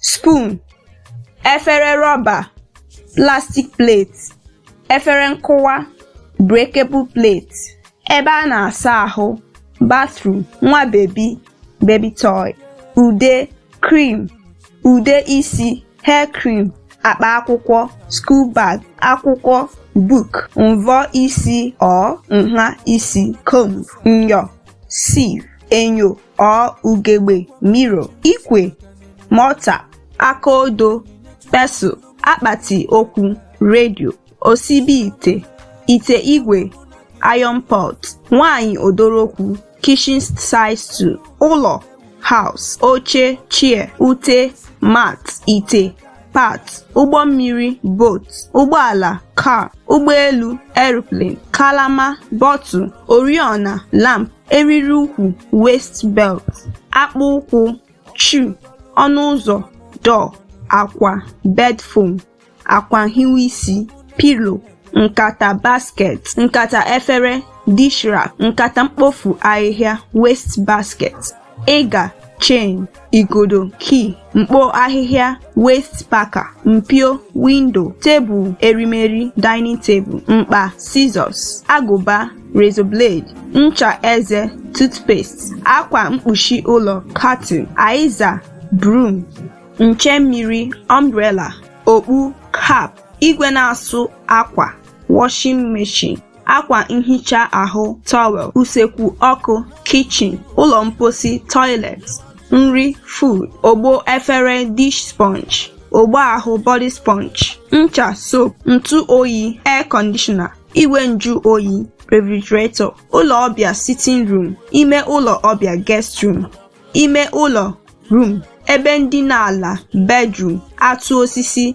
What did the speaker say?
spoon efere rọba plastic plate efere nkụwa breakable plate ebe a na-asa ahụ bathroom nwa bebi baby toy ude cream ude isi hair cream akpa akwụkwọ school bag akwụkwọ book mvọ isi or nha isi comb nyọ sieve enyo or ugegbe mirror, ikwe, mortar, aka odo, pestle, akpati okwu, radio, osibi ite, ite igwe, iron pot, nwanyị odorokwu, kitchen side stool, ụlọ, house, oche, chair, ute, mat, ite, pot, ụgbọ mmiri, boat, ụgbọala, car, ụgbọelu, aeroplane, kalama, bottle, oriọna, lamp, eriri ukwu waist belt akpụ ụkwụ shoe ọnụ ụzọ door akwa bed foam akwa nhiwe isi pillow nkata basket nkata efere dish rack nkata mkpofu ahịhịa waste basket ịga chain igodo key mkpo ahịhịa waste packer mpio window tebụl erimeri dining table mkpa scissors agụba razor blade ncha eze toothpaste akwa mkpuchi ụlọ curtain aịza broom nche mmiri umbrella okpu cap igwe na-asụ akwa washing machine akwa nhicha ahụ towel usekwu ọkụ kitchen ụlọ mposi toilet nri food ogbo efere dish sponge ogbo ahụ body sponge ncha soap ntụ oyi air conditioner igwe njụ oyi refrigerator ụlọ ọbịa sitting room ime ụlọ ọbịa guest room ime ụlọ room ebe ndina ala bedroom atụ osisi